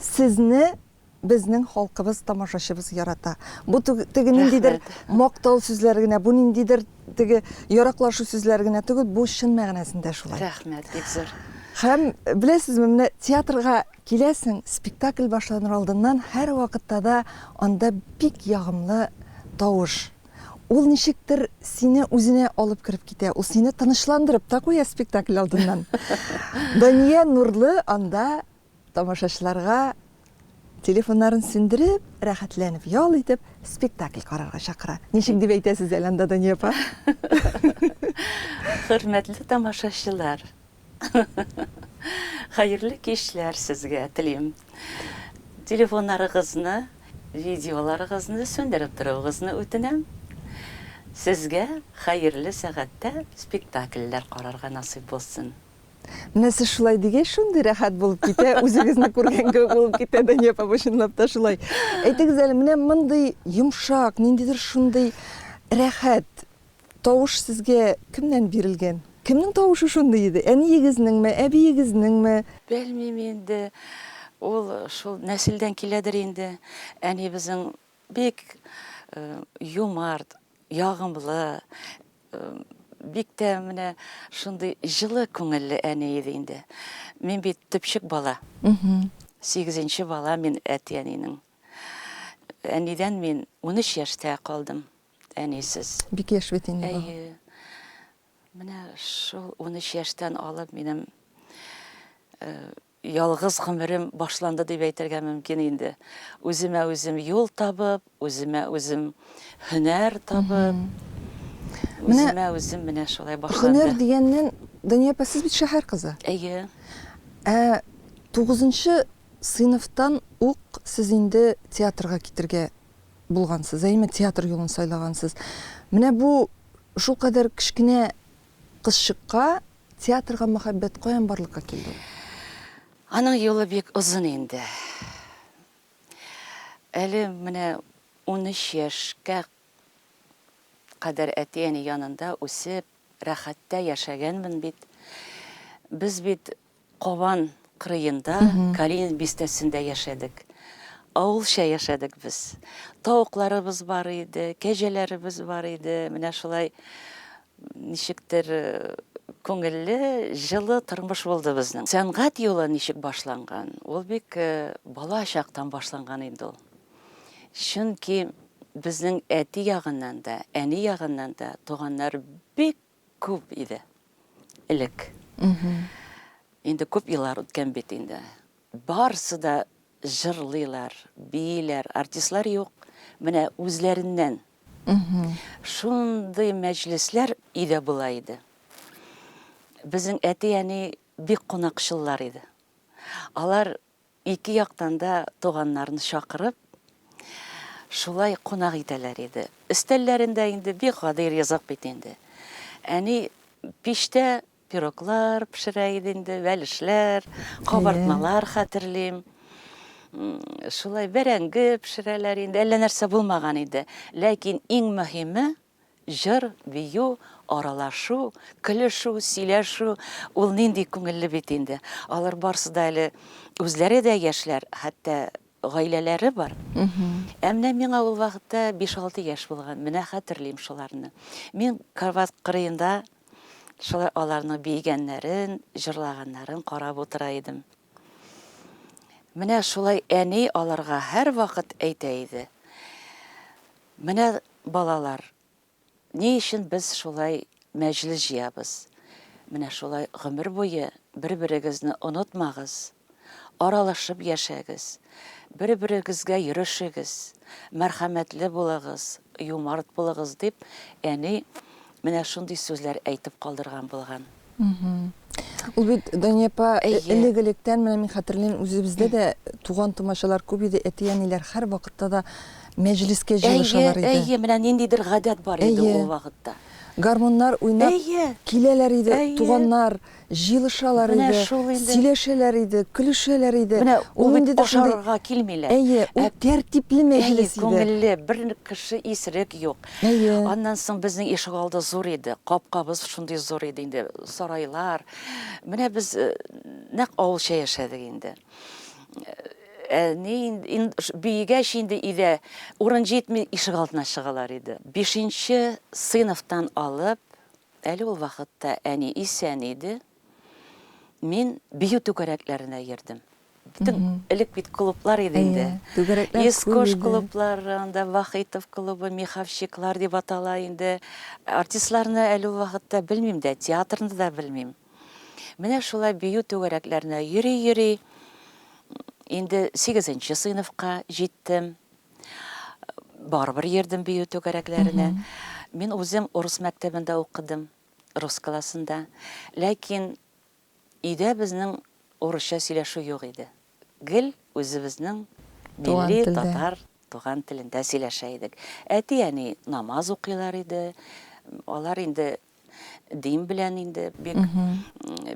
Сезне безнең халкыбыз, тамашачыбыз ярата. Бу теге ниндидер мактау сүзләре генә, бу ниндидер теге яраклашу сүзләре генә түгел, бу чын мәгънәсендә шулай. Рәхмәт, бик зур. Һәм беләсезме, менә театрга киләсең, спектакль башланыр алдыннан һәрвакытта да анда бик ягымлы тавыш. Ул ничектер сине үзенә алып кереп китә, ул сине тынычландырып та куя спектакль алдыннан. Дания Нурлы анда Тамашачыларга телефоннарын сүндереп, рәхәтләнеп ял итеп, спектакль карарга чакыра. Ничек дип әйтәсез әле анда, Дания апа? Хөрмәтле тамашачылар! Хәерле кичләр сезгә телим. Телефоннарыгызны, видеоларыгызны сүндереп торуыгызны үтенәм. Сезгә хәерле сәгатьтә спектакльләр карарга насыйп булсын. Менә сез шулай дигәч, шундый рәхәт булып китә, үзегезне күргән кебек булып китә, Дания апа, бу чынлап та шулай. Әйтегез әле, менә мондый йомшак, ниндидер шундый рәхәт тавыш сезгә кемнән бирелгән? Кемнең тавышы шундый иде? Әниегезнеңме, әбиегезнеңме? Белмим инде, ул шул нәселдән киләдер инде. Әнибезнең бик юмарт, Ягымлы, бик тә менә шундый җылы күңелле әни иде инде. Мин бит төпчек бала. Сигезенче бала мин әти-әнинең. Әнидән мин 13 яшьтә калдым, әнисез. Бик яшь бит инде. Әйе. Менә шул 13 яшьтән алып минем Ялгыз гомерем башланды дип әйтергә мөмкин инде. Үземә үзем юл табып, үземә үзем һөнәр табып, үземә үзем менә шулай башланды. Менә һөнәр дигәннән, Дания апа, сез бит шәһәр кызы. Әйе. Ә тугызынчы сыйныфтан ук сез инде театрга китергә булгансыз, әйеме? Театр юлын сайлагансыз. Менә бу шулкадәр кечкенә кызчыкка Театрга мәхәббәт каян барлыкка килде ул? Аның юлы бик озын инде. Әле менә унөч яшькә кадәр әти-әни янында үсеп, рәхәттә яшәгәнмен бит. Без бит Кабан кырыенда, Калинин бистәсендә яшәдек. Авылча яшәдек без. Тавыкларыбыз бар иде, кәҗәләребез бар иде. Менә шулай ничектер күңелле, җылы тормыш булды безнең. Сәнгать юлы ничек башланган? Ул бик бала чактан башланган инде ул. Чөнки безнең әти ягыннан да, әни ягыннан да туганнар бик Күп иде. Элек. Инде күп еллар үткән бит инде. Барсы да җырлыйлар, бииләр, артистлар юк. Менә үзләреннән. Шундый мәҗлесләр өйдә була иде. Безнең әти-әни бик кунакчыллар иде. Алар Ике яктан да туганнарны чакырып, шулай кунак итәләр иде. Өстәлләрендә инде бик гади ризык бит инде. Әни пичтә пироглар пешерә иде инде, бәлешләр, кабартмалар хәтерлим. Шулай бәрәңге пешерәләр инде, әллә нәрсә булмаган иде. Ләкин иң мөһиме, Җыр, бию, аралашу, көлешү, сөйләшү, ул нинди күңелле бит инде. Алар барсы да әле үзләре дә яшьләр, хәтта гаиләләре бар. Ә менә миңа ул вакытта биш-алты яшь булган, менә хәтерлим шуларны. Мин карбат кырыенда шулай аларның биегәннәрен, җырлаганнарын карап утыра идем. Менә шулай әни аларга һәрвакыт әйтә иде. Менә, балалар, ни өчен без шулай мәҗлес җыябыз. Менә шулай гомер буе бер-берегезне онытмагыз, аралашып яшәгез, бер-берегезгә йөрешегез, мәрхәмәтле булыгыз, юмарт булыгыз, дип әни Менә шундый сүзләр әйтеп калдырган булган. Ул бит, Дания апа, элек-электән, менә мин хәтерлим, үзебездә дә туган-тумачалар күп иде, әти-әниләр һәрвакытта да мәҗлескә җыелышалар иде. Әйе, әйе, менә ниндидер гадәт бар иде ул вакытта. Гармуннар уйнап киләләр иде туганнар. җыелышалар иде, сөйләшәләр иде, көлешәләр иде. Менә ул бит ашарга килмиләр. Әйе, ул тәртипле мәҗлес иде. Күңелле, бер кеше исерек юк. Әйе. Аннан соң безнең ишегалды зур иде, капкабыз шундый зур иде инде, сарайлар. Менә без нәкъ авылча яшәдек инде. Әни биегәч инде өйдә урын җитми, ишегалдына чыгалар иде. Бишенче сыйныфтан алып, Әле ул вакытта әни исән иде. Мин бию түгәрәкләренә йөрдем. Бөтен элек бит клублар иде инде. Искош клублары, анда Вахитов клубы, Миховщиклар дип атала инде. Артистларны әле ул вакытта белмим дә, театрны да белмим. Менә шулай бию түгәрәкләренә йөри-йөри, инде сигезенче сыйныфка җиттем. Барыбер йөрдем бию түгәрәкләренә. Мин үзем урыс мәктәбендә укыдым, рус классында. Ләкин өйдә безнең урысча сөйләшү юк иде. Гел үзебезнең милли татар туган телендә сөйләшә идек. Әти-әни намаз укыйлар иде. Алар инде дин белән инде бик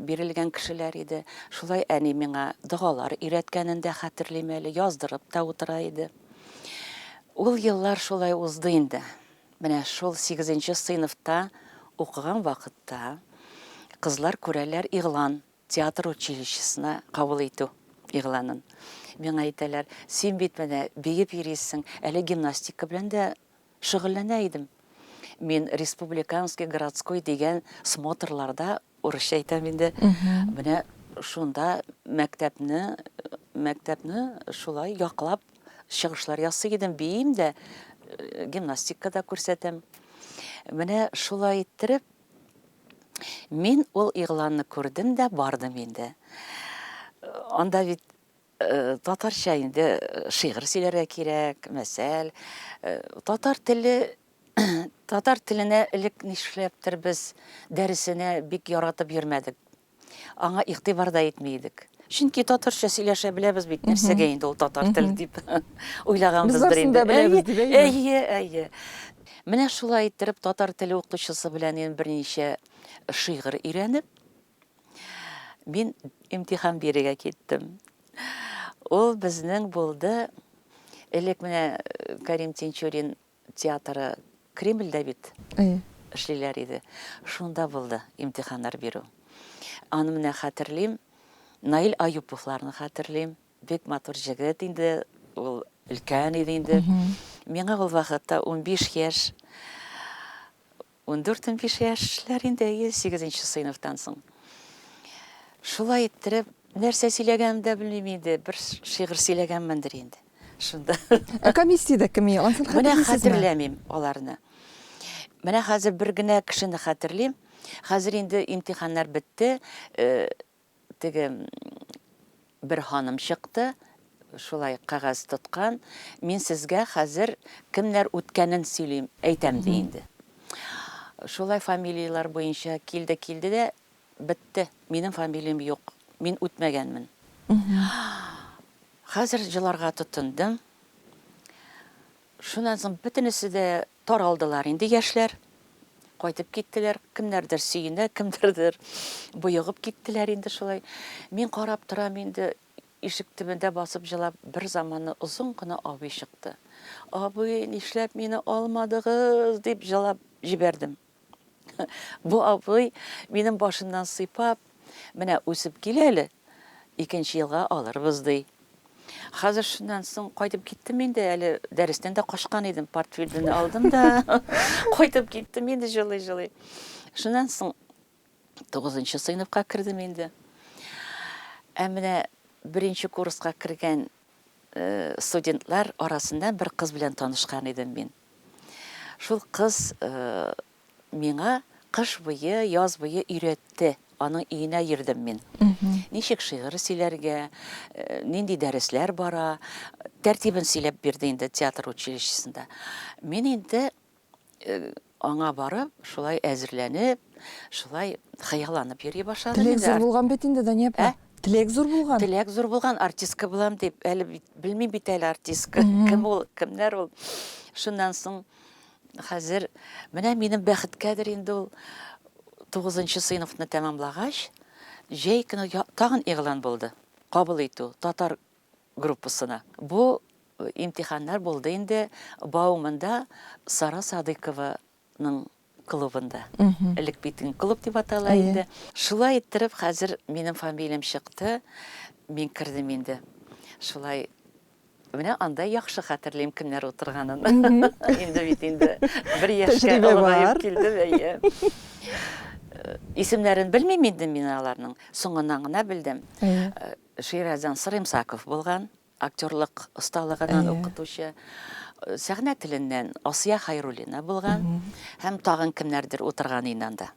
бирелгән кешеләр иде. Шулай әни миңа догалар өйрәткәнен дә хәтерлим әле, яздырып та утыра иде. Ул еллар шулай узды инде. Менә шул 8 сыйныфта укыган вакытта кызлар күрәләр игълан театр училищесына кабул итү игъланын. Миңа әйтәләр, син бит менә биеп йөрисең, әле гимнастика белән дә шөгыльләнә идем. Мин республиканский, городской дигән смотрларда, урысча әйтәм инде, менә шунда мәктәпне, мәктәпне шулай яклап чыгышлар ясый идем, биим дә, гимнастика да күрсәтәм. Менә шулай иттереп, мин ул игъланны күрдем дә бардым инде. Анда бит Татарча инде шигырь сөйләргә кирәк, мәсәл. Татар теле, татар теленә элек нишләптер без дәресенә бик яратып йөрмәдек. Аңа игътибар да итми идек. Чөнки татарча сөйләшә беләбез бит, нәрсәгә инде ул татар теле дип уйлаганбыздыр инде. Әйе, әйе. Менә шулай иттереп татар теле укытучысы белән мин берничә шигырь өйрәнеп, Мин имтихан бирергә киттем. Ул безнең булды. Элек менә э, Карим Тинчурин театры Кремльдә бит эшлиләр иде. Шунда булды имтиханнар бирү. Аны менә хәтерлим. Наил Аюповларны хәтерлим. Бик матур җегет инде, ул өлкән иде инде. Миңа ул вакытта 15 яшь. Ундүрт-унбиш яшьләр инде, әйе, сигезенче сыйныфтан соң. Шулай иттереп, нәрсә сөйләгәнемне дә белмим инде, бер шигырь сөйләгәнмендер инде шунда. Ә комиссиядә кем иде, анысын хәтерлисезме? Менә хәтерләмим аларны. Менә хәзер бер генә кешене хәтерлим. Хәзер инде имтиханнар бетте, Теге бер ханым чыкты, шулай кәгазь тоткан, Мин сезгә хәзер кемнәр үткәнен сөйлим, әйтәм, ди инде. Шулай фамилияләр буенча килде, килде дә, бетте, минем фамилиям юк, мин үтмәгәнмен. Хәзер җыларга тотындым. Шуннан соң бөтенесе дә Таралдылар инде яшьләр. Кайтып киттеләр. Кемнәрдер сөенә, кемнәрдер боегып киттеләр инде шулай. Мин карап торам инде, ишек төбендә басып җылап, бер заманны озын гына абый чыкты. Абый, нишләп мине алмадыгыз? дип җылап җибәрдем. Бу абый, минем башымнан сыйпап, Менә үсеп кил әле, икенче елга алырбыз, ди. Хәзер шуннан соң кайтып киттем инде, әле дәрестән дә качкан идем, портфельдене алдым да, кайтып киттем инде җылый-җылый. Шуннан соң Тугызынчы сыйныфка кердем инде. Ә менә беренче курска кергән студентлар арасында бер кыз белән танышкан идем мин. Шул кыз миңа кыш буе, яз буе өйрәтте. Аның өенә йөрдем мин. Ничек шигырь сөйләргә, нинди дәресләр бара, тәртибен сөйләп бирде инде театр училищесында. Мин инде аңа барып, шулай әзерләнеп, шулай хыялланып йөри башлады. Теләк зур булган бит инде, Дания апа. Ә? Теләк зур булган. Теләк зур булган, артистка булам дип, әле бит, белмим бит әле артистка, кем ул, кемнәр ул. Шуннан соң хәзер, менә минем бәхеткәдер инде ул, тугызынчы сыйныфны тәмамлагач, җәй көне тагын игълан булды. Кабул итү, татар группасына. Бу имтиханнар булды инде Бауманда Сара Садыйкованың клубында. Элек бит клуб дип атала иде. Шулай иттереп хәзер минем фамилиям чыкты, мин кердем инде. Шулай менә анда яхшы хәтерлим кемнәр утырганын. Инде бит инде бер яшькә олыгаеп килдем, әйе. Исемнәрен белмим инде мин аларның, соңыннан гына белдем. Шираздан Саремсаков булган, актерлык осталыгыннан укытучы. Сәхнә теленнән Асия Хайруллина булган һәм тагын кемнәрдер утырган иде анда.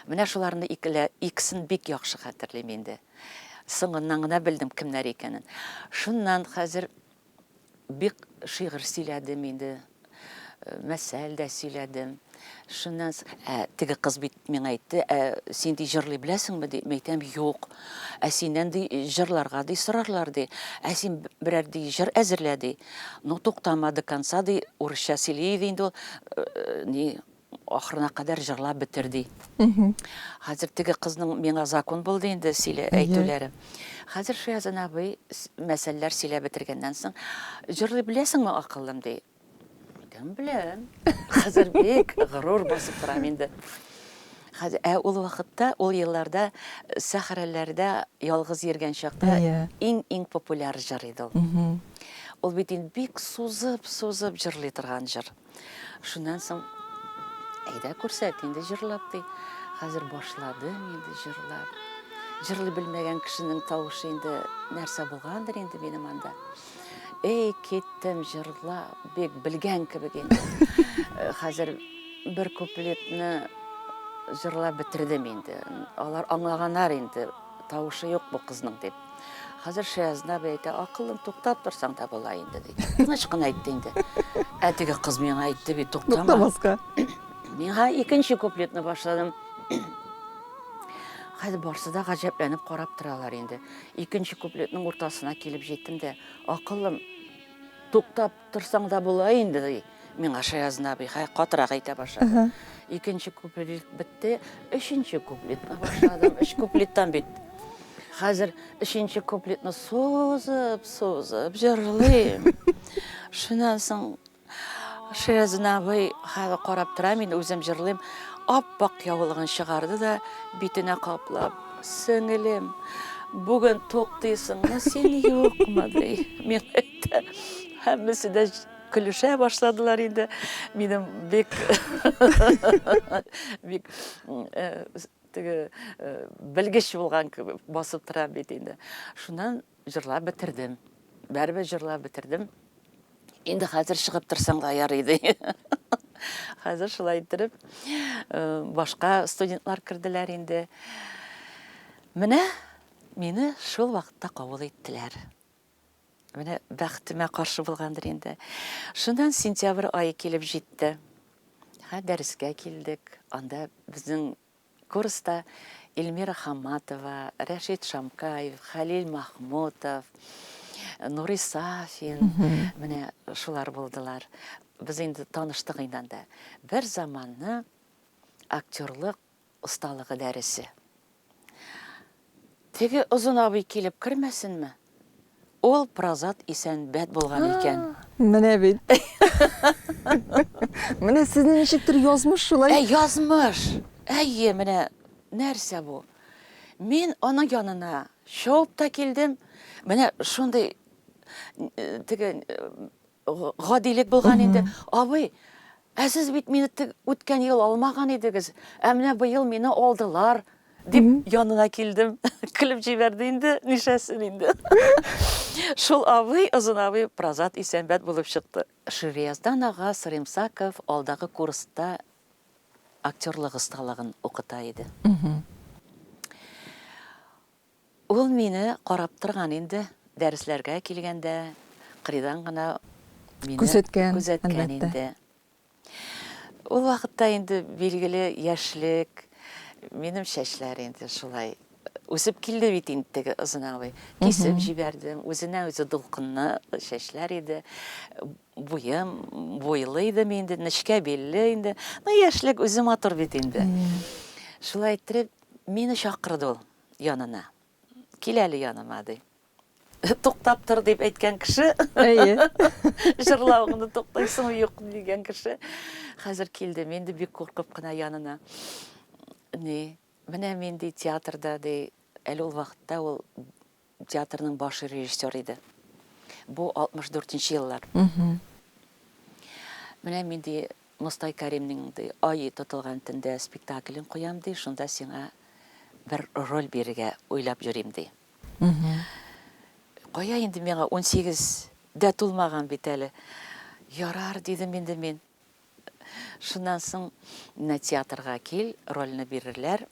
Менә шуларны икесен бик яхшы хәтерлим инде. Соңыннан гына белдем, кемнәр икәнен. Шуннан хәзер Бик шигырь сөйләдем инде, мәсәл дә сөйләдем. Шуннан ә, теге кыз бит миңа әйтте, ә син ди җырлый беләсеңме ди? Мин әйтәм, юк. Ә синнән ди җырларга ди сорарлар ди. Ә син берәр ди җыр әзерлә ди. Ну, туктама до конца ди, урысча сөйли иде инде ул, ни, Ахырына кадәр җырлап бетер, ди. Хәзер теге кызның миңа закун булды инде сөйлә, әйтүләре. Хәзер Шиязан абый мәсәлләр сөйләп бетергәннән соң, Җырлый беләсеңме, акыллым? ди. Кем белән? Хәзер бик горур басып торам инде. Хәзер, ә ул вакытта, ул елларда сәхрәләрдә ялгыз йөргән чакта иң-иң популяр җыр иде ул. Ул бит инде бик сузып-сузып җырлый торган җыр. Шуннан соң, әйдә күрсәт инде җырлап, ди. Хәзер башладым инде җырлап. Җырлый белмәгән кешенең тавышы инде нәрсә булгандыр инде минем анда. Эй, киттем җырлап, бик белгән кебек инде. Э, хәзер бер куплетны җырлап бетердем инде. Алар аңлаганнар инде, тавышы юк бу кызның дип. Хәзер Шәязна әйтә, акылың туктап торсаң да була инде ди. Тыныч кына әйтте инде. Ә теге кыз миңа әйтте бит, туктама. Туктамаска. Миңа икенче куплетны башладым. Хәзер барсы да гаҗәпләнеп карап торалар инде. Икенче куплетның уртасына килеп җиттем дә, акылым туктап Торсаң да була инде, ди миңа Шаязны абый, хәй, катырак әйтә башлады. Икенче куплет бетте, өченче куплетка башладым. Өч куплеттан бит. Хәзер өченче куплетны сузып, сузып җырлыйм. Шуннан соң Шаязын абый хәзер карап тора, мин үзем җырлыйм. Ап-ак яулыгын чыгарды да битенә каплап, сеңелем, бүген туктыйсыңмы син, юкмы, ди. китте. Һәммәсе дә көлешә башладылар инде. Минем бик бик э, теге э, белгеч булган кебек басып тора бит инде. Шуннан җырлап бетердем. Бәрбе җырлап бетердем. Инде хәзер чыгып торсам да ярый иде. Хәзер шулай иттереп э, башка студентлар керделәр инде. Менә мине шул вакытта кабул иттеләр. Менә бәхтемә каршы булгандыр инде. Шуннан сентябрь айы килеп җитте. Һә дәрескә килдек. Анда безнең курста Эльмира Хаматова, Рәшит Шамкаев, Халил Махмутов, Нури Сафин, менә шулар булдылар. Без инде таныштык инде анда. Бер заманны актерлык осталыгы дәресе. Теге озын абый килеп кермәсенме? Ул прозат исән бәд булган икән. Менә бит. Менә сезнең ничектер язмыш шулай. Ә язмыш. Әйе, менә нәрсә бу? Мин аның янына шауып та килдем. Менә шундый теге гадилек булган инде. Абый, ә сез бит мине үткән ел алмаган идегез, ә менә быел мине алдылар, дип янына килдем. Көлеп җибәрде инде, нишәсен инде. Шул абый, озын абый Празат Исәнбәт булып чыкты. Ширияздан ага Саримсаков алдагы курста актерлык осталыгын укыта иде. Ул мине карап торган инде, дәресләргә килгәндә кырыйдан гына мине күзәткән инде. Ул вакытта инде билгеле яшьлек, минем чәчләр инде шулай үсеп килде бит инде теге озынаулый. Кисеп җибәрдем, үзенә-үзе дулкынлы чәчләр иде, буем, буйлы идем инде, нечкә билле инде. Ну, яшьлек үзе матур бит инде. Шулай иттереп, мине чакырды ул. янына. Кил әле яныма, ди. Туктап тор дип әйткән кеше. Әйе. Җырлавыңны туктыйсыңмы, юкмы дигән кеше. Хәзер килдем, инде бик куркып кына янына. Ни, менә мин ди театрда, ди, әле ул вакытта ул театрның баш режиссер иде. Бу 64 нче еллар. Менә мин ди Мостай Кәримнең, ди, Ае тотылган төндә спектаклен куям, ди, шунда сиңа бер роль бирергә уйлап йөрим, ди. Кая инде миңа, унсигез дә тулмаган бит әле. Ярар, дидем инде мин. Шуннан соң, менә театрга кил, рольне бирерләр.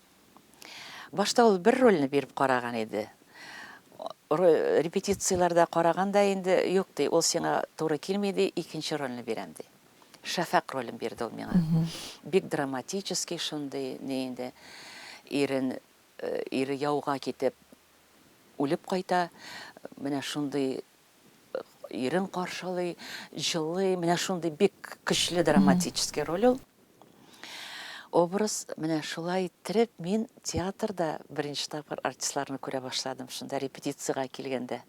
Башта ул бер рольне биреп караган иде. Репетицияләрдә караган да инде, юк, ди, ул сиңа туры килми, ди, икенче рольне бирәм, ди. Шәфәкъ ролен бирде ул миңа. Бик драматический шундый, ни инде, ирен, ире яуга китеп, үлеп кайта, менә шундый ирен каршылый, җылый, менә шундый бик көчле драматический роль ул. Образ, менә шулай иттереп, мин театрда беренче тапкыр артистларны күрә башладым, шунда репетициягә килгәндә.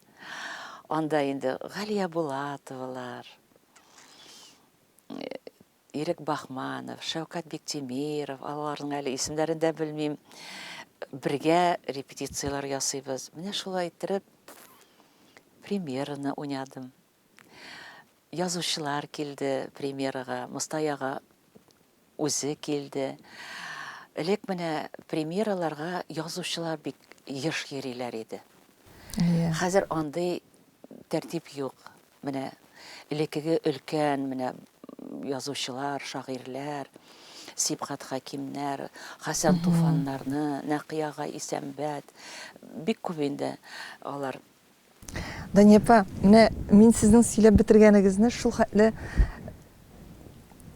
Анда инде Галия Булатовалар, Ирек Бахманов, Шәүкәт Биктимиров, аларның әле исемнәрен дә белмим. Бергә репетицияләр ясыйбыз. Менә шулай иттереп премьераны уйнадым. Язучылар килде премьерага, Мостаяга Үзе килде. Элек менә премьераларга язучылар бик еш йөриләр иде. Әйе. Хәзер андый тәртип юк. Менә элекеге өлкән менә язучылар, шагыйрьләр, Сибгат Хәкимнәр, Хәсән Туфаннарны, Нәкый ага Исәнбәт, бик күп инде алар. Дания апа, менә мин сезнең сөйләп бетергәнегезне шул хәтле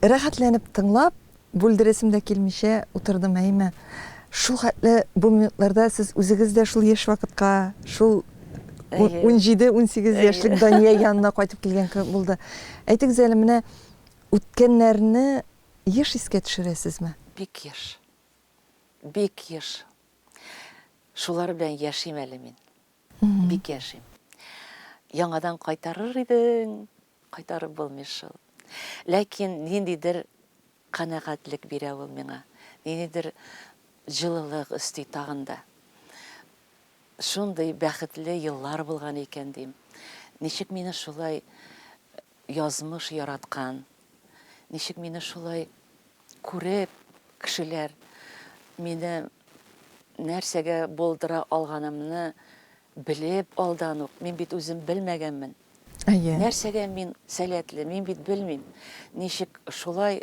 рәхәтләнеп тыңлап, бүлдерәсем дә килмичә утырдым, әйме. Шул хәтле бу минутларда сез үзегез дә шул яшь вакытка, шул Әйе. ун- унҗиде, унсигез Әйе. яшьлек Дания янына кайтып килгән кебек булды. Әйтегез әле, менә үткәннәрне еш искә төшерәсезме? Бик еш. Бик еш. Шулар белән яшим әле мин. Бик яшим. Яңадан кайтарыр идең, кайтарып булмый шул. Ләкин ниндидер канәгатьлек бирә ул миңа, ниндидер җылылык өсти тагын да. Шундый бәхетле еллар булган икән, дим. Ничек мине шулай Язмыш яраткан. Ничек мине шулай күреп, кешеләр мине нәрсәгә булдыра алганымны белеп алдан ук, мин бит үзем белмәгәнмен. Нәрсәгә мин сәләтле, мин бит белмим. Ничек шулай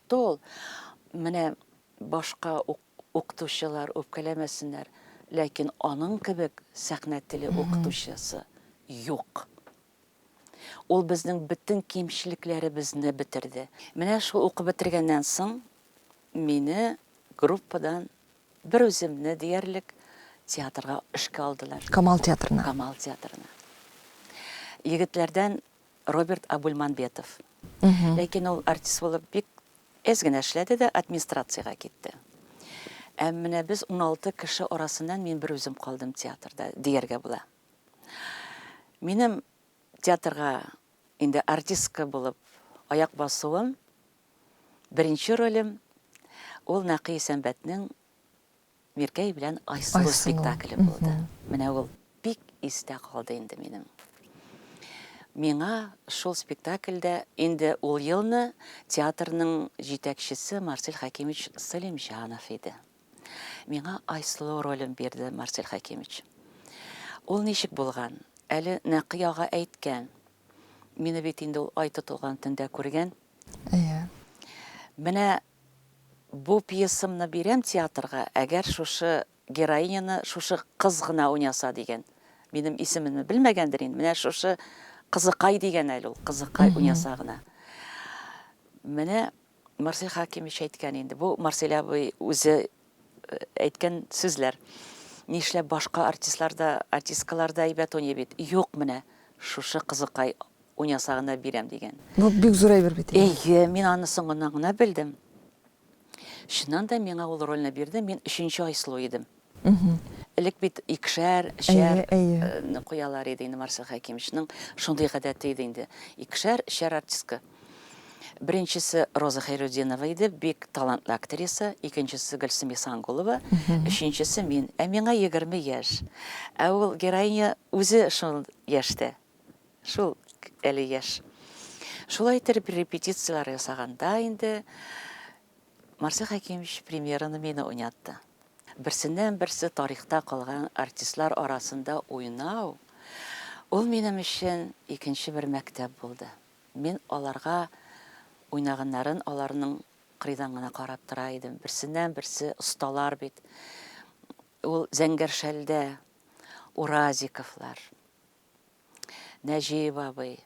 Тол. Менә башка ук укытучылар үпкәләмәсеннәр, ләкин аның кебек сәхнә теле укытучысы юк. Ул безнең бөтен кимчелекләребезне бетерде. Менә шул укып бетергәннән соң мине группадан бер үземне диярлек театрга эшкә алдылар. Камал театрына. Камал театрына. Егетләрдән Роберт Абульманбетов. Ләкин ул артист булып бик әз генә эшләде дә администрациягә китте. Ә менә без уналты кеше арасыннан мин берүзем калдым театрда, дияргә була. Минем театрга инде артистка булып аяк басуым, беренче ролем, ул Нәкый Исәнбәтнең Миркәй белән Айсылу спектакле булды. Менә ул бик истә калды инде минем. Миңа шул спектакльдә инде ул елны театрның җитәкчесе Марсель Хәкимович Сәлимҗанов иде. Миңа Айсылу ролен бирде Марсель Хәкимович. Ул ничек булган? Әле Нәкый ага әйткән. Мине бит инде ул ай тотылган төндә күргән. Әйе. Менә Бу пьесамны бирәм театрга, әгәр шушы героиняны шушы кыз гына уйнаса дигән. Минем исемемне белмәгәндер инде, менә шушы кызыкай дигән әле ул, кызыкай уйнаса гына. Менә Марсель Хәкимович әйткән инде, бу Марсель абый үзе әйткән сүзләр. Нишләп башка артистлар да, артисткалар да әйбәт уйный бит. Юк, менә шушы кызыкай уйнаса гына бирәм дигән. Бу бик зур әйбер бит. Әйе, мин аны соңыннан гына белдем. Чыннан да миңа ул рольне бирде, мин өченче Айсылу идем. Элек бит икешәр, өчәр куялар иде инде Марсел Хәкимовичның шундый гадәте иде инде. Икешәр, өчәр артистка. Беренчесе Роза Хәйрутдинова иде, бик талантлы актриса, икенчесе Гөлсем Ихсангулова, өченчесе мин. Ә миңа егерме яшь. Ә ул героиня үзе шул яшьтә. Шул әле яшь. Шулай итеп репетицияләр ясаганда инде Марсель Хәкимович премьераны мине уйнатты. Берсеннән берсе тарихта калган артистлар арасында уйнау ул минем өчен икенче бер мәктәп булды. Мин аларга уйнаганнарын аларның кырыйдан гына карап тора идем. Берсеннән берсе осталар бит. Ул Зәңгәршәлдә Уразиковлар, Нәҗиев абый.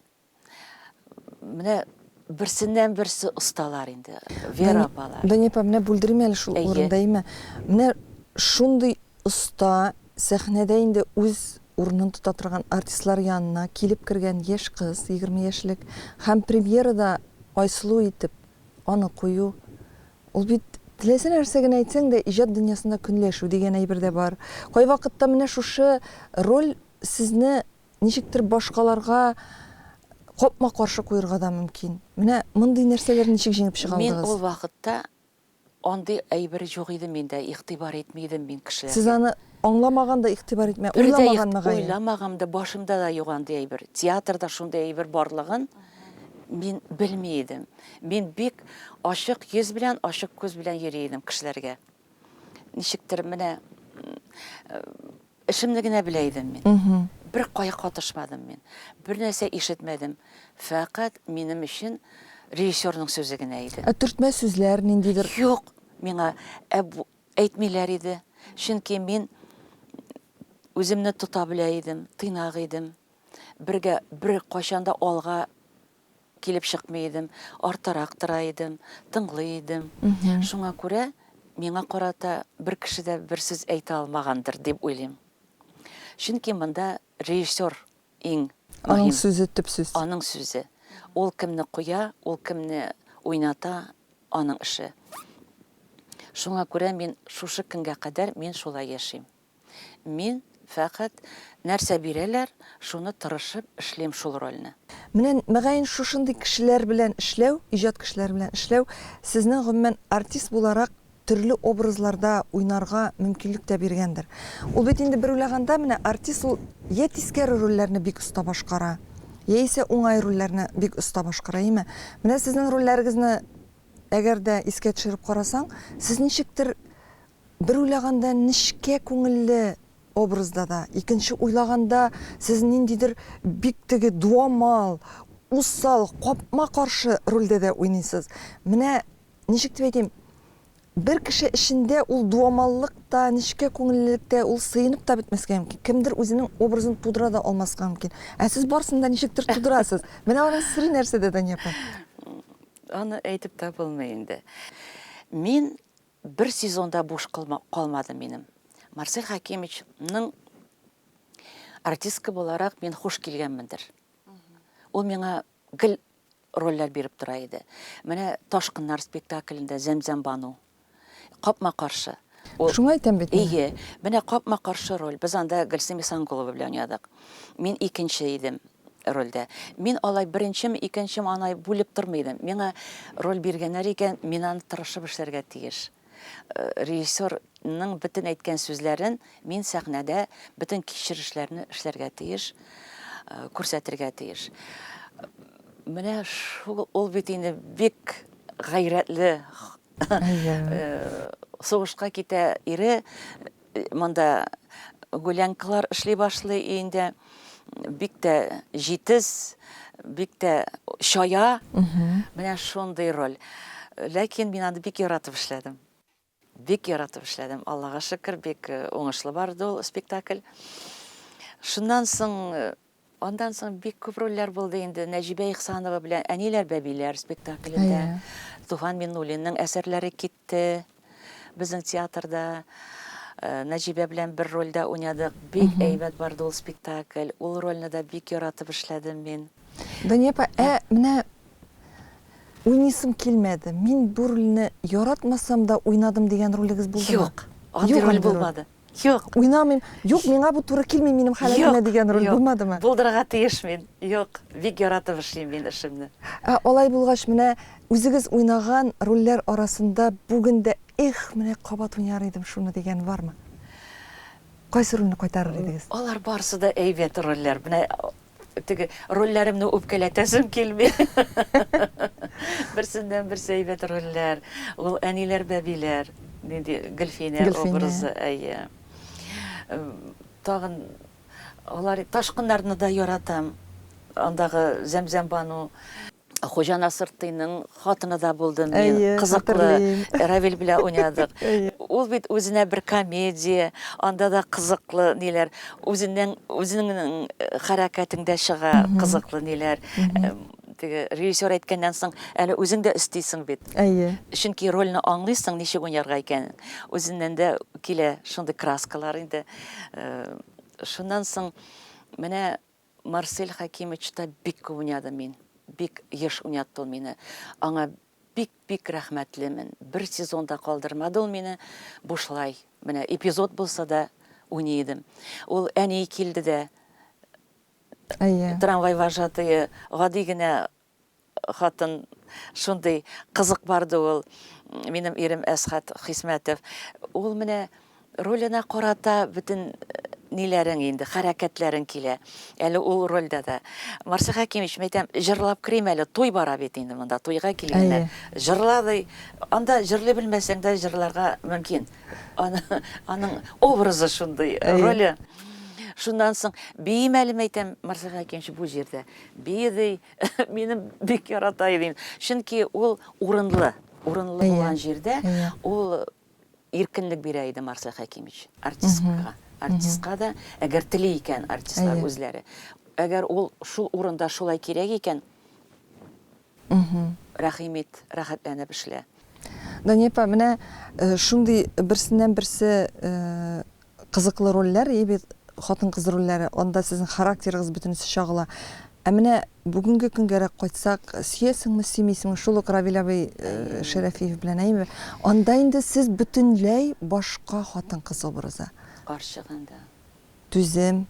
Менә берсеннән берсе осталар инде. Вера апалар. Дания апа, менә бүлдерим әле шул урында, әйме? Менә шундый оста сәхнәдә инде үз урынын тота торган артистлар янына килеп кергән яшь кыз, егерме яшьлек, һәм премьерада Айсылу итеп аны кую, ул бит, теләсә нәрсә генә әйтсәң дә, иҗат дөньясында көнләшү дигән әйбер дә бар. Кайвакытта менә шушы роль сезне ничектер башкаларга капма-каршы куерга да мөмкин. Менә мондый нәрсәләрне ничек җиңеп чыга алдыгыз? Мин ул вакытта Андый әйбер юк иде миндә, игътибар итми идем мин Сез кешеләргә. аны аңламаган да игътибар итмә, Бер дә уйламаган игъ, мөгаен. уйламагам да, башымда да юк андый әйбер. Театрда шундый әйбер барлыгын мин белми идем. Мин бик ачык йөз белән, ачык күз белән йөри идем кешеләргә. Ничектер менә, м, Эшемне генә белә идем мин. Бер кая катышмадым мин. Бер нәрсә ишетмәдем. Фәкать минем өчен режиссерның сүзе генә иде. Ә төртмә сүзләр, ниндидер? Юк, миңа әйтмиләр иде. Чөнки мин үземне тота белә идем, тыйнак идем. Бергә, беркайчан да алга. килеп чыкмый идем, артарак тора идем, тыңлый идем. Шуңа күрә миңа карата бер кеше дә бер сүз әйтә алмагандыр дип уйлыйм. Чөнки монда режиссер иң мөһим. Аның сүзе, төп сүз. Аның сүзе. Ул кемне куя, ул кемне уйната, аның эше. Шуңа күрә мин шушы көнгә кадәр мин шулай яшим. Мин фәкать нәрсә бирәләр, шуны тырышып эшлим шул рольне. Менә, мөгаен, шушындый кешеләр белән эшләү, иҗат кешеләре белән эшләү сезнең, гомумән, артист буларак төрле образларда уйнарга мөмкинлек тә биргәндер. Ул бит инде бер уйлаганда, менә артист ул йә тискәре рольләрне бик оста башкара, яисә уңай рольләрне бик оста башкара, әйеме? Менә сезнең рольләрегезне әгәр дә искә төшереп карасаң, сез ничектер Бер уйлаганда нечкә күңелле образда да, икенче уйлаганда сез ниндидер бик теге дуамал, усал, капма-каршы рольдә дә уйныйсыз. Менә ничек дип әйтим, бер кеше эчендә ул дуамаллык та, нечкә күңеллелек тә, ул сыенып та бетмәскә мөмкин. Кемдер үзенең образын тудыра да алмаска мөмкин. Ә сез барысын да ничектер тудырасыз. Менә аның сере нәрсәдә, Дания апа? Аны әйтеп тә булмый инде. Мин Бер сезон да буш калмады минем. Марсель Хәкимович ның артистка буларак мин хуш килгәнмендер. Ул миңа гел рольләр биреп тора иде. Менә Ташкыннар спектаклендә Зәмзәм Бану. Капма каршы. Шуңа әйтәм бит мин. Әйе, менә капма каршы роль. Без анда Гөлсем Исангулова белән уйнадык. Мин икенче идем. рольдә. Мин алай беренчем, икенчем анай бүлеп тормый идем. Миңа роль биргәннәр икән, мин аны тырышып эшләргә тиеш. Режиссер ның бөтен әйткән сүзләрен мин сәхнәдә бөтен кичерешләрне эшләргә тиеш, күрсәтергә тиеш. Менә шул ул бит инде бик гайрәтле сугышка китә ире, Монда гулянкалар эшли башлый инде. Бик тә җитез, бик тә чая. Менә шундый роль. Ләкин мин аны бик яратып эшләдем. Бик яратып эшләдем. Аллага шөкер, бик э, уңышлы барды ул спектакль. Шуннан соң э, Андан соң бик күп рольләр булды инде. Нәҗибә Ихсанова белән Әниләр бәбиләр спектаклендә. Әйе. Туфан Миннуллинның әсәрләре китте безнең театрда. Нәҗибә белән бер рольдә уйнадык. Бик әйбәт барды ул спектакль. Ул рольне дә бик яратып эшләдем мин. Дания апа, ә менә уйныйсым килмәде, мин бу рольне яратмасам да уйнадым дигән ролегез булдымы? Юк, андый роль булмады. Юк. Уйнамыйм. Юк, миңа бу туры килми, минем халәтемә дигән роль булмадымы? Булдырырга тиеш мин. Юк, бик яратып эшлим мин эшемне. Ә алай булгач, менә үзегез уйнаган рольләр арасында бүген дә, эх, менә кабат уйнар идем шуны дигән бармы? Кайсы рольне кайтарыр идегез? Алар барысы да әйбәт рольләр. Менә теге рольләремне үпкәләтәсем килми. Берсеннән-берсе әйбәт рольләр. Ул әниләр, бәбиләр. Нинди Гөлфинә образы, әйе. Тагын алар Ташкыннарны да яратам. Андагы Зәмзәмбану. Хуҗа Насыртыйның хатыны да булды мин. Кызыклы. Равил белән уйнадык. Ул бит үзенә бер комедия, анда да кызыклы ниләр, үзеннән үзеңнең хәрәкәтеңдә чыга кызыклы ниләр. Теге режиссер әйткәннән соң, әле үзең дә өстисең бит. Әйе. Чөнки рольне аңлыйсың, ничек уйнарга икәнен. Үзеннән дә килә шундый краскалар инде. Шуннан соң менә Марсель Хәкимыч та бик күп уйнады мин бик еш уйнатты ул мине. Аңа бик бик рәхмәтлемен. Бер сезон да калдырмады ул мине бушлай. Менә эпизод булса да уйный идем. Ул әни килде дә Әйе. трамвай вожатые гади генә хатын шундый кызык барды ул минем ирем Әсхат Хисмәтов. Ул менә роленә карата бөтен э, ниләрең инде, хәрәкәтләрең килә. Әле ул рольдә дә. Марсель Хәкимович, мен әйтәм, җырлап керим әле, туй бара бит инде монда, туйга килгәннәр. Җырла ди. Анда җырлый белмәсәң дә җырларга мөмкин. Аны, аның образы шундый, роле. Шуннан соң биемәлем әйтәм, Марсель Хәкимович, бу җирдә би ди, минем бик ярата идем. Чөнки ул урынлы, урынлы булган җирдә ул иркенлек бирә иде Марсель Хәкимович артисткага. Артистка да, әгәр тели икән артистлар үзләре. Әгәр ул шул урында шулай кирәк икән, Рәхим ит, рәхәтләнеп эшлә. Дания апа, менә шундый берсеннән берсе кызыклы рольләр, и бит хатын-кыз рольләре, анда сезнең характерыгыз бөтенесе чагыла. Ә менә бүгенге көнгәрәк кайтсак, сөясеңме, сөймисеңме, шул ук Равил абый Шәрәфиев белән, әйеме? Анда инде сез бөтенләй башка хатын-кыз образы. Карчык инде. түзем,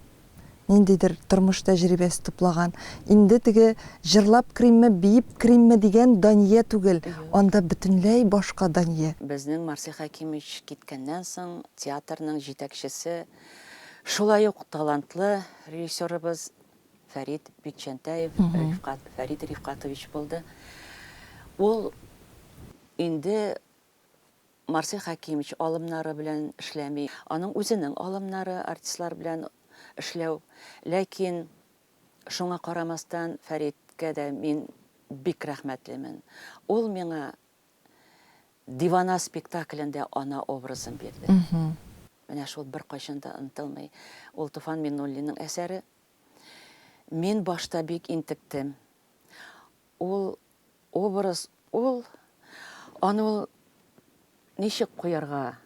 ниндидер тормыш тәҗрибәсе туплаган. Инде теге җырлап керимме, биеп керимме дигән Дания түгел, анда бөтенләй башка Дания. Безнең Марсель Хәкимович киткәннән соң театрның җитәкчесе, шулай ук талантлы режиссерыбыз Фәрит Бикчәнтәев Рифкат, Фәрит Рифкатович булды. Ул инде Марсель Хәкимович алымнары белән эшләми. Аның үзенең алымнары артистлар белән эшләү. Ләкин шуңа карамастан Фәриткә дә мин бик рәхмәтлемен. Ул миңа Дивана спектаклендә ана образын бирде. Менә шул беркайчан да онытылмый. Ул Туфан Миннуллинның әсәре. Мин башта бик интектем. Ул образ ул, аны ул ничек куярга,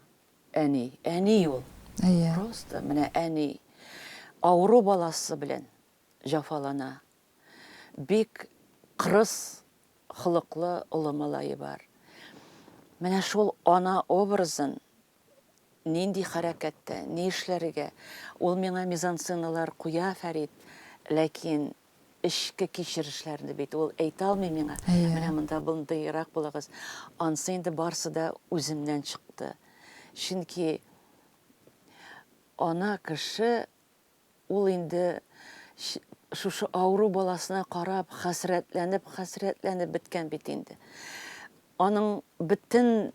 әни, әни ул. Әйе. Просто менә әни авыру баласы белән җафалана. Бик кырыс холыклы олы малае бар. Менә шул ана образын нинди хәрәкәттә, ни эшләргә, ул миңа мизансценалар куя Фәрит, ләкин эчке кичерешләрне бит ул әйтә алмый миңа, менә монда мондыйрак булыгыз. Ансы инде барсы да үземнән чыкты. Чөнки ана кеше ул инде шушы авыру баласына карап, хәсрәтләнеп, хәсрәтләнеп беткән бит инде. Аның бөтен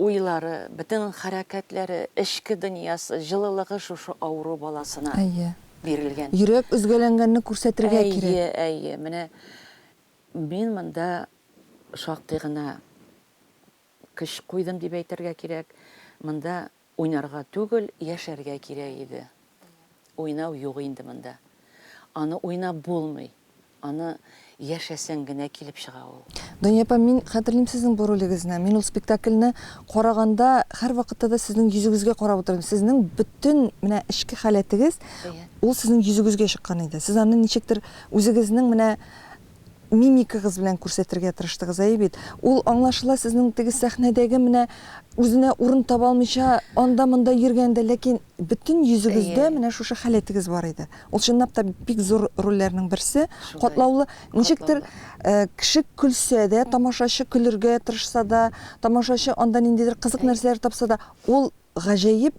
Уйлары, бөтен хәрәкәтләре, эчке дөньясы, җылылыгы шушы авыру баласына Әйе. бирелгән. Йөрәк өзгәләнгәнне күрсәтергә кирәк. Әйе, әйе. Менә мин монда шактый гына көч куйдым дип әйтергә кирәк. Монда Уйнарга түгел, яшәргә кирәк иде. Уйнау юк инде монда. Аны уйнап булмый. Аны яшәсәң генә килеп чыга ул. Дания апа, мин хәтерлим сезнең бу ролегезне. Мин ул спектакльне караганда, һәрвакытта да сезнең йөзегезгә карап утырдым. Сезнең бөтен менә эчке халәтегез, ул сезнең йөзегезгә чыккан иде. Сез аны ничектер үзегезнең менә Мимикагыз белән күрсәтергә тырыштыгыз, әйе бит? Ул, аңлашыла, сезнең теге сәхнәдәге менә үзенә урын таба алмыйча анда-монда йөргәндә, ләкин бөтен йөзегездә менә шушы халәтегез бар иде. Ул чынлап та бик зур рольләрнең берсе, катлаулы. Ничектер, кеше көлсә дә, тамашачы көлергә тырышса да, тамашачы анда ниндидер кызык нәрсәләр тапса да, ул гаҗәеп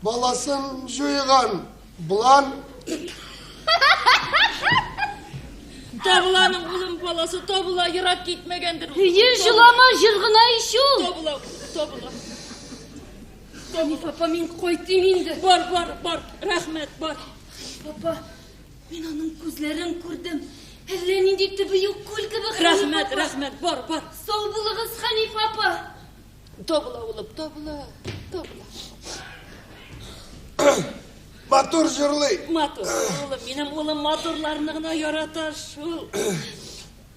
Баласын җуйган булан. Табыланың улым баласы табыла, ерак китмәгәндер. Һөер җылама җыр гына ич ул. Табыла, табыла. Табыла. Папа, мин кайтыйм инде. Бар, бар, бар. Рәхмәт, бар. Папа, мин аның күзләрен күрдем. Әллә нинди төбе юк күл кебек. Рәхмәт, рәхмәт. Бар, бар. Сау булыгыз, Хәниф апа. Табыла, улым, табыла, табыла. Матур җырлый. Матур, улым, минем улым матурларны гына ярата шул.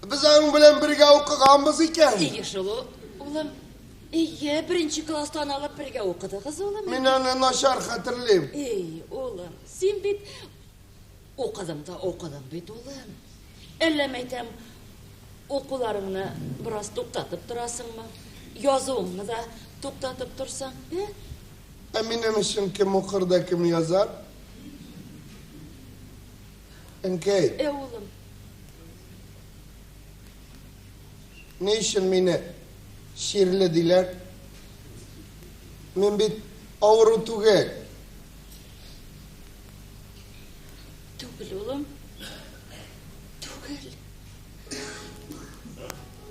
Без аның белән бергә укыганбыз икән. Ие шул, улым. Ие, беренче класстан алып бергә укыдыгыз, улым. Мин аны начар хәтерлим. Эй, улым, син бит Укыдың да укыдың бит, улым. Әллә, мәйтәм, укуларыңны бераз туктатып торасыңмы? Язуыңны да туктатып торсаң, ә? Ә минем өчен кем укыр да кем язар? Әнкәй. Ә, улым. Ни өчен мине чирле диләр? Мин бит авыру түгел. Түгел, улым. Түгел.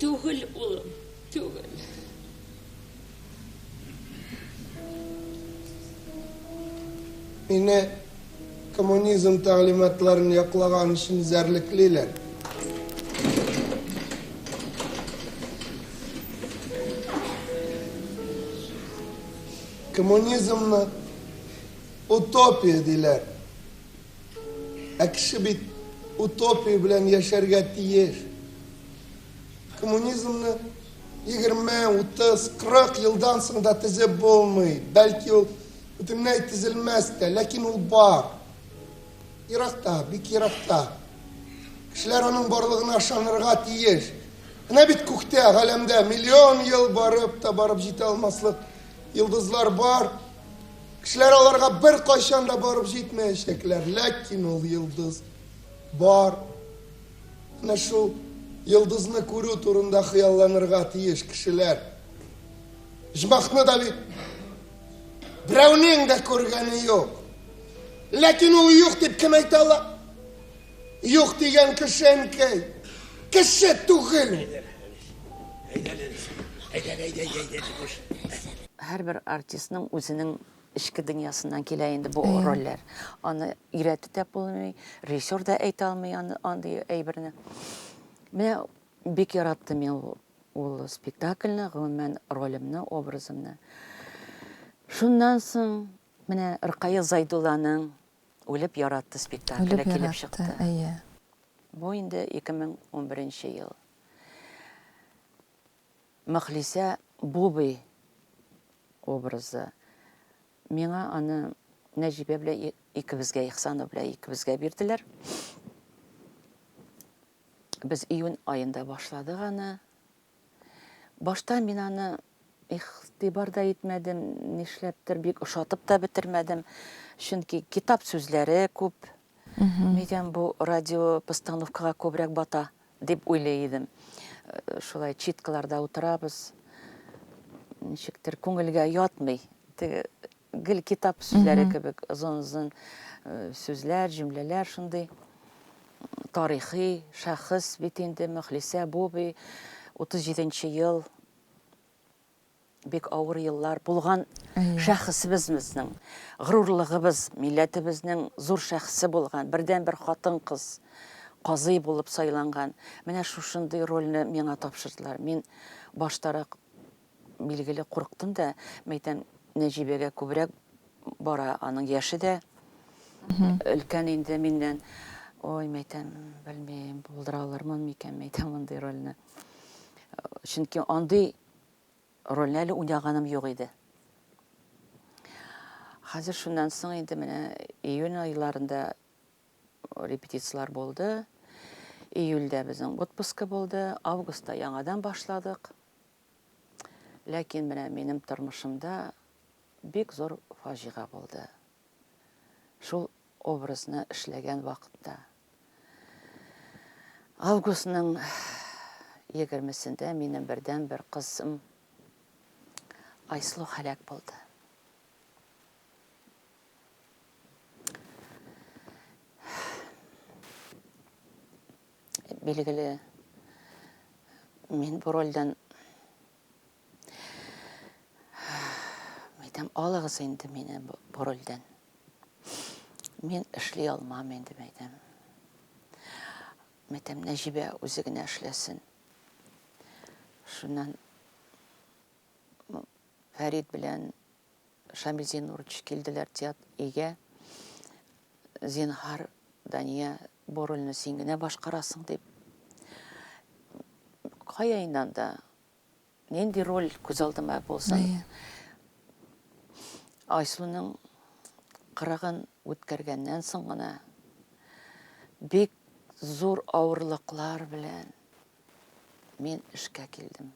Түгел, улым. Түгел. Мине коммунизм тәгълиматларын яклаган өчен зәрлеклиләр. Коммунизмны Утопия диләр. Ә кеше бит утопия белән яшәргә тиеш. Коммунизмны 20, 30, 40 елдан соң да тезеп булмый. Бәлки ул бөтенләй тезелмәс тә, ләкин ул бар. Еракта, бик еракта. Кешеләр аның барлыгына ышанырга тиеш. Менә бит күктә, галәмдә миллион ел барып та барып җитә алмаслык йолдызлар бар, Кешеләр аларга бер кайчан да барып җитмәячәкләр, ләкин ул йолдыз бар. Менә шул йолдызны күрү турында хыялланырга тиеш кешеләр. Җмахны да бит берәүнең дә күргәне юк. Ләкин ул юк дип кем әйтә ала? Юк дигән кеше әнкәй. Кеше түгел. Әйдә, әйдә, әйдә, әйдә, чукыш. Һәрбер артистның үзенең эчке дөньясыннан килә инде бу рольләр. Аны өйрәтеп тә булмый, режиссер да әйтә алмый андый әйберне. Менә бик яраттым мин ул ул спектакльне, гомумән ролемне, образымны. Шуннан соң менә Ркая Зайдулланың Үлеп яратты спектакле килеп чыкты. Үлеп яратты, әйе. Бу инде 2011 нче ел. Мөхлисә Бубый образы. Миңа аны Нәҗибә белән икебезгә, Ихсанов белән икебезгә бирделәр. Без июнь аенда башладык аны. Башта мин аны игътибар да итмәдем, нишләптер, бик ошатып та бетермәдем. Чөнки китап сүзләре күп. Мигән бу радиопостановкага күбрәк бата, дип уйлый идем. Шулай читкаларда утырабыз. Ничектер күңелгә ятмый. Теге Гел китап сүзләре кебек озын-озын сүзләр, җөмләләр шундый тарихи шәхес бит инде Мөхлисә Буби 37 нче ел бик авыр еллар булган шәхесебез безнең горурлыгыбыз милләтебезнең зур шәхесе булган бердән бер хатын кыз казый булып сайланган менә шушындый рольне миңа тапшырдылар мин баштарак Билгеле, курыктым да, мәйтәм, Нәҗибәгә күбрәк бара, аның яше дә өлкән инде миннән. Ой, мәйтәм, белмим, булдыра алырмын микән, мәйтәм, мондый рольне. Чөнки андый рольне әле уйнаганым юк иде. Хәзер шуннан соң инде менә июнь айларында репетицияләр булды. Июльдә безнең отпуска булды, августта яңадан башладык. Ләкин менә минем тормышымда бик зур фаҗига булды. Шул образны эшләгән вакытта. Августның егермесендә минем бердәнбер кызым Айслу һәлак булды. Билгеле, мин бу рольдән әйтәм, алыгыз инде мине бу рольдән. Мин эшли алмам инде, әйтәм. Мәтәм Нәҗибә үзе генә эшләсен. Шуннан Фәрид белән Шамил Зиннурович килделәр теат өйгә. Зинһар, Дания, бу рольне син генә башкарасың дип. Кая инде анда? Нинди роль күз алдыма булсын? Әйе. Айсуның кырыгын үткәргәннән соң гына бик зур авырлыклар белән мин эшкә килдем.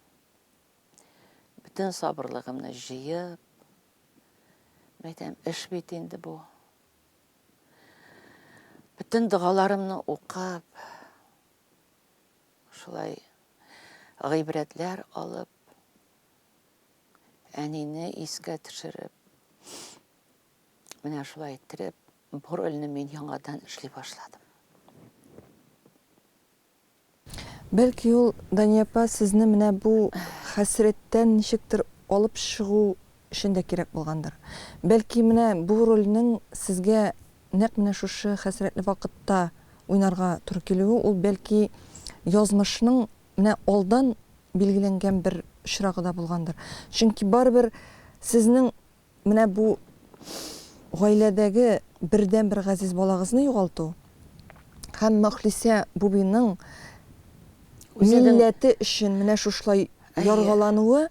Бөтен сабырлыгымны җыеп, мәйтәм, эш бит инде бу. Бөтен догаларымны укып, шулай гыйбрәтләр алып, әнине искә төшереп, менә шулай иттереп, бу рольне мин яңадан эшли башладым. Бәлки ул, Дания апа, сезне менә бу хәсрәттән ничектер алып чыгу өчен дә кирәк булгандыр. Бәлки менә бу рольнең сезгә нәкъ менә шушы хәсрәтле вакытта уйнарга туры килүе, ул бәлки язмышның менә алдан билгеләнгән бер очрагы да булгандыр. Чөнки барыбер сезнең Менә бу гаиләдәге бердәнбер газиз балагызны югалту һәм Мөхлисә Бубиның милләте өчен менә шушылай яргалануы,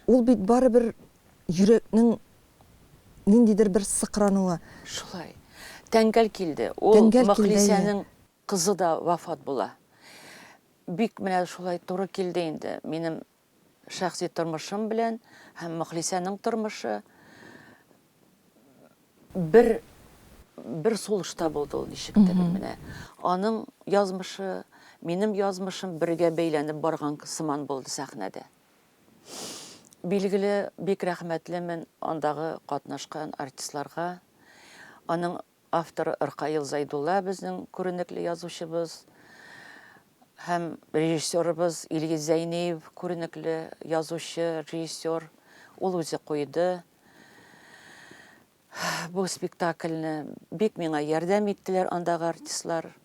ул бит барыбер йөрәкнең ниндидер бер сыкрануы. Шулай. Тәңгәл килде. Ул Мөхлисәнең кызы да вафат була. Бик менә шулай туры килде инде минем Шәхси тормышым белән һәм Мөхлисәнең тормышы бер бер сулышта булды ул ничектер. Менә аның язмышы, минем язмышым бергә бәйләнеп барган сыман булды сәхнәдә. Билгеле, бик рәхмәтлемен андагы катнашкан артистларга, аның Автор Ркаил Зәйдулла безнең күренекле язучыбыз һәм режиссерыбыз Илгиз Зәйниев күренекле язучы, режиссер. Ул үзе куйды бу спектакльне. Бик миңа ярдәм иттеләр андагы артистлар.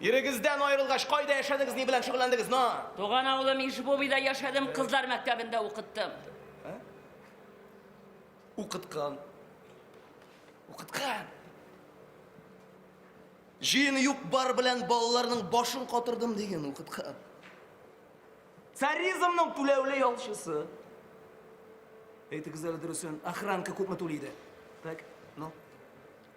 Ирегездән аерылгач, кайда яшәдегез, ни белән шөгыльләндегез? На. Туган авылым Ишбубида яшәдем, кызлар мәктәбендә укыттым. Укыткан. Укыткан. Җыен юк бар белән балаларның башын катырдым дигән укыткан. Царизмның түләүле ялчысы. Әйтегез әле дөресен, охранка күпме түли иде? Так, ну.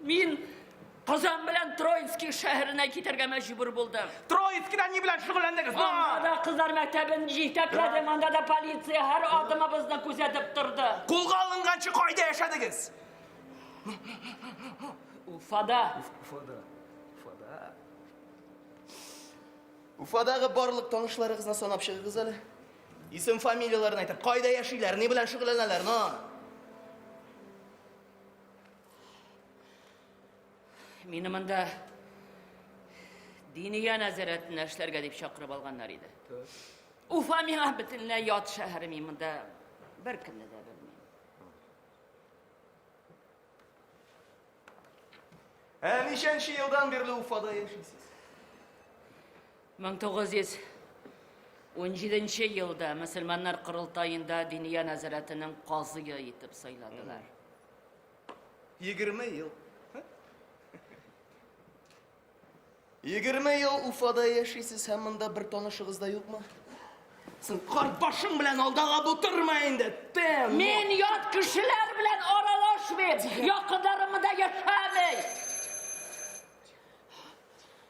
Мин Казан белән Троицкий шәһәренә китәргә мәҗбүр булдым. Троицкида ни белән шөгыльләндегез? Анда да кызлар мәктәбен җитәкләдем, анда да полиция һәр адымыбызны күзәтеп торды. Кулга алынганчы кайда яшәдегез? Уфада. Уфада. Уфада. Уфадагы барлык танышларыгызны санап чыгыгыз әле. Исем фамилияләрен әйтеп, кайда яшиләр, ни белән шөгыльләнәләр, но. Мине монда Диния нәзарәтендә эшләргә дип чакырып алганнар иде. Уфа миңа бөтенләй ят шәһәр, мин монда беркемне дә белмим. Ә ничәнче елдан бирле Уфада яшисез? 1917 елда мөселманнар корылтаенда Диния нәзарәтенең казые итеп сайладылар. Егерме ел. Егерме ел Уфада яшисез һәм монда бер танышыгыз да юкмы? Син карбашың белән алдага бутырма инде. Тем. Мин ят кешеләр белән аралашмыйм. Якындарымда яшәмим.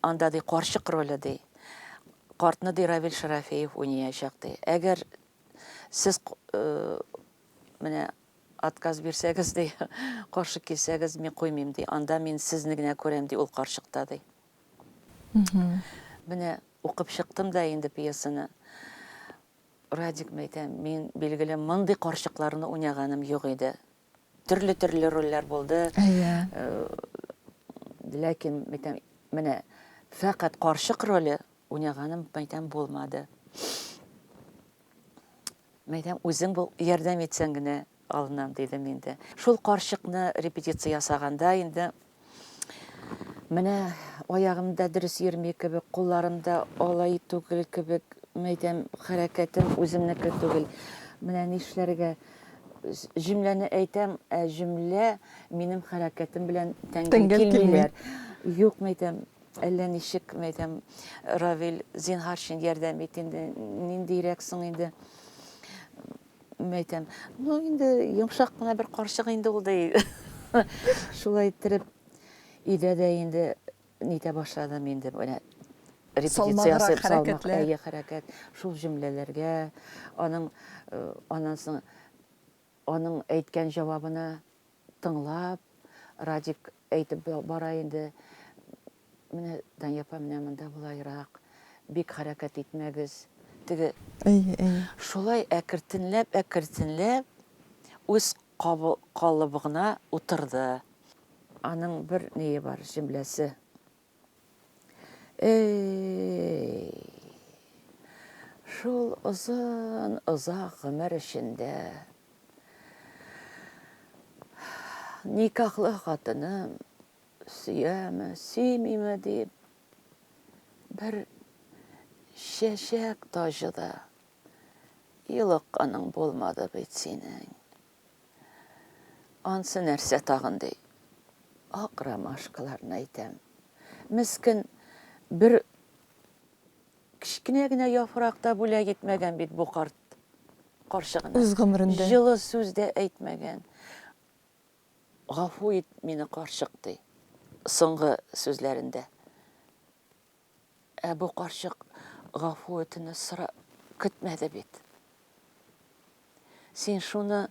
Анда, ди, карчык роле, ди, картны, ди, Равил Шарафеев уйнаячак, ди. Әгәр сез менә отказ бирсәгез, ди, каршы килсәгез, мин куймыйм, ди. Анда мин сезне генә күрәм, ди, ул карчыкта, ди. Менә укып чыктым да инде пьесаны. Радик мәйтәм, мин билгеле мондый карчыкларны уйнаганым юк иде. төрле-төрле рольләр булды. Әйе. Э, ләкин мәйтәм, менә фәкать карчык роле уйнаганым мәйтәм булмады. Мәйтәм үзең бу ярдәм итсәң генә алынам дидем инде. Шул карчыкны репетиция ясаганда инде Менә аягым да дөрес йөрми кебек, кулларым да алай түгел кебек, мәйтәм, хәрәкәтем үземнеке түгел. Менә нишләргә? Җөмләне әйтәм, ә җөмлә минем хәрәкәтем белән тәңгәл килмиләр. Юк, мәйтәм, әллә ничек, мәйтәм, Равил, зинһар өчен ярдәм ит инде. Ниндирәк соң инде? Мин әйтәм, ну инде йомшак кына бер карчык инде ул ди. Шулай иттереп, өйдә дә инде нитә башладым инде, менә репетиция ясап салмак, әйе, хәрәкәт, шул җөмләләргә, аның э, аннан соң аның әйткән җавабына тыңлап, Радик әйтеп бара инде, Менә Дания апа менә монда болайрак, бик хәрәкәт итмәгез. Теге Әйе, әйе. Шулай әкертенләп, әкертенләп үз калыбыгына утырды. Аның бер ние бар, җөмләсе. Эй! Шул озын, озак гомер эчендә никахлы хатыным Сөяме, сөймиме дип, бер чәчәк таҗы да йолыкканың булмады бит синең. Ансы нәрсә тагын ди. Ак ромашкаларны әйтәм. Мескен бер кечкенә генә яфракта бүләк итмәгән бит бу карт карчыгына. Үз гомерендә. Җылы сүз дә әйтмәгән. Гафу ит мине, карчык, ди соңгы сүзләрендә. Ә бу карчык гафу үтенү сора көтмәде бит. Син шуны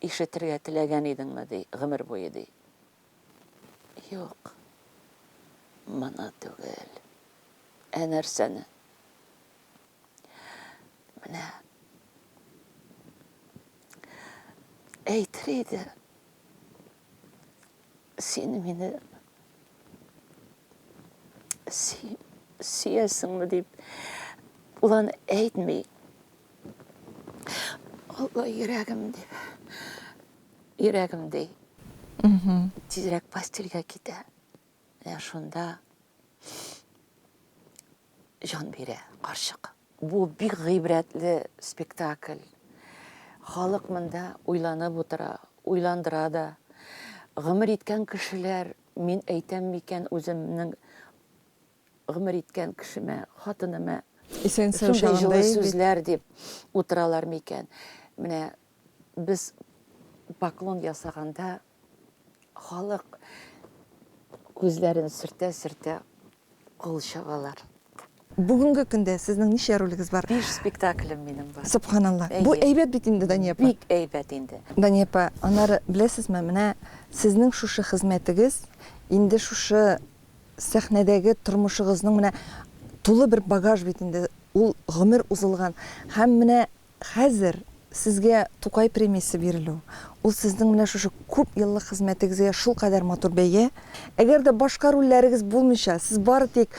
ишетергә теләгән идеңме, ди, гомер буе, ди. Юк. Моны түгел. Ә нәрсәне? Менә. Әйтер иде. Син мине си, сиясеңме дип улан әйтми. Алла йөрәгем дип. Йөрәгем ди. Тизрәк постельгә китә. Менә шунда җан бирә карчык. Бу бик гыйбрәтле спектакль. Халык монда уйланып утыра, уйландыра да. Гомер иткән кешеләр, мин әйтәм микән үземнең гомер иткән кешемә, хатыныма шундый җылы сүзләр дип утыралар микән? Менә без поклон ясаганда Халык күзләрен сөртә-сөртә кул чабалар. Бүгенге көндә сезнең ничә ролегез бар? Биш спектаклем минем бар. Сөбханалла. Бу әйбәт бит инде, Дания апа. Бик әйбәт инде. Дания апа, аннары, беләсезме, менә сезнең шушы хезмәтегез инде шушы сәхнәдәге тормышыгызның менә тулы бер багаж бит инде. Ул гомер узылган. Һәм менә Хәзер Сезгә Тукай премиясе бирелү, ул Сезнең менә шушы күп еллык хезмәтегезгә шулкадәр матур бәя. Әгәр дә башка рольләрегез булмыйча, Сез бары тик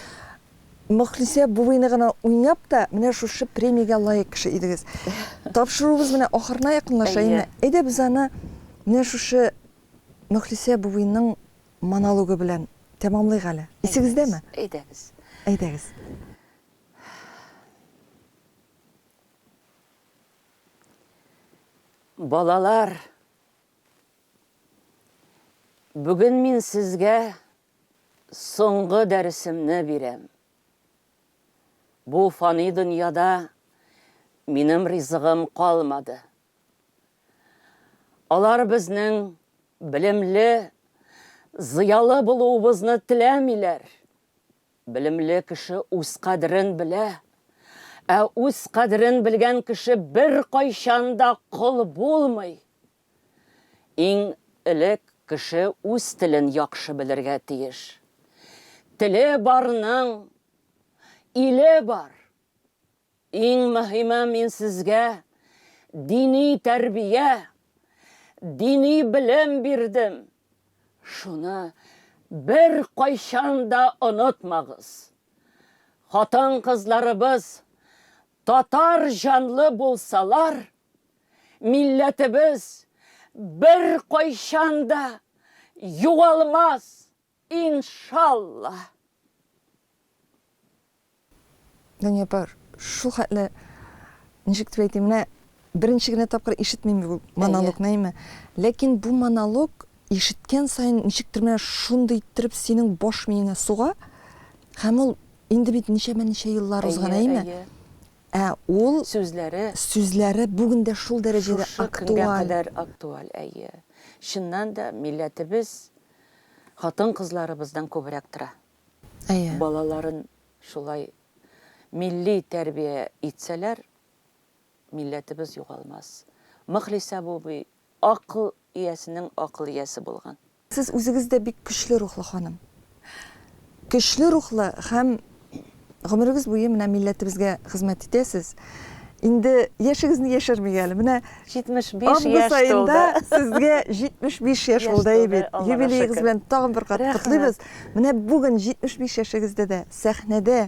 Мөхлисә абыйны гына уйнап та, менә шушы премиягә лаек кеше идегез. Тапшыруыбыз менә ахырына якынлаша инде. Әйдә без аны менә шушы Мөхлисә абыйның монологы белән тәмамлыйк әле. Исегездәме? Әйдәгез. Әйдәгез. Балалар, бүген мин сезгә соңгы дәресемне бирәм. Бу фани дөньяда минем ризыгым калмады. Алар безнең белемле, зыялы булуыбызны теләмиләр. Белемле кеше үз кадерен белә. Ә үз кадерен белгән кеше беркайчан да кол булмый. Иң элек кеше үз телен яхшы белергә тиеш. Теле барның иле бар. Иң мөһиме мин сезгә дини тәрбия, дини белем бирдем, шуны беркайчан да онытмагыз. Хатын-кызларыбыз татар җанлы булсалар, милләтебез беркайчан да югалмас! Иншалла! Дания апа, шул хәтле, ничек дип әйтим, менә беренче генә тапкыр ишетмим бу монологны, әйме? Ләкин бу монолог ишеткән саен ничектер менә шундый иттереп синең баш миеңә суга, һәм ул инде бит ничәмә ничә еллар узган, әйме? Ә ул сүзләре, сүзләре бүген дә шул дәрәҗәдә актуаль. Шушы көнгә кадәр актуаль, әйе. Чыннан да, милләтебез Хатын-кызларыбыздан күбрәк тора. Әйе. Балаларын шулай милли тәрбия итсәләр, милләтебез югалмас. Мөхлисә бубый акыл иясенең акыл иясе булган. Сез үзегез дә бик көчле рухлы ханым. Көчле рухлы һәм гомерегез буе менә милләтебезгә хезмәт итәсез. Инде яшегезне яшермик әле. Менә 75 яшь тулды. Август аенда сезгә 75 яшь булды, әйе бит? Юбилеегыз белән тагын бер кат котлыйбыз. Менә бүген 75 яшегездә дә сәхнәдә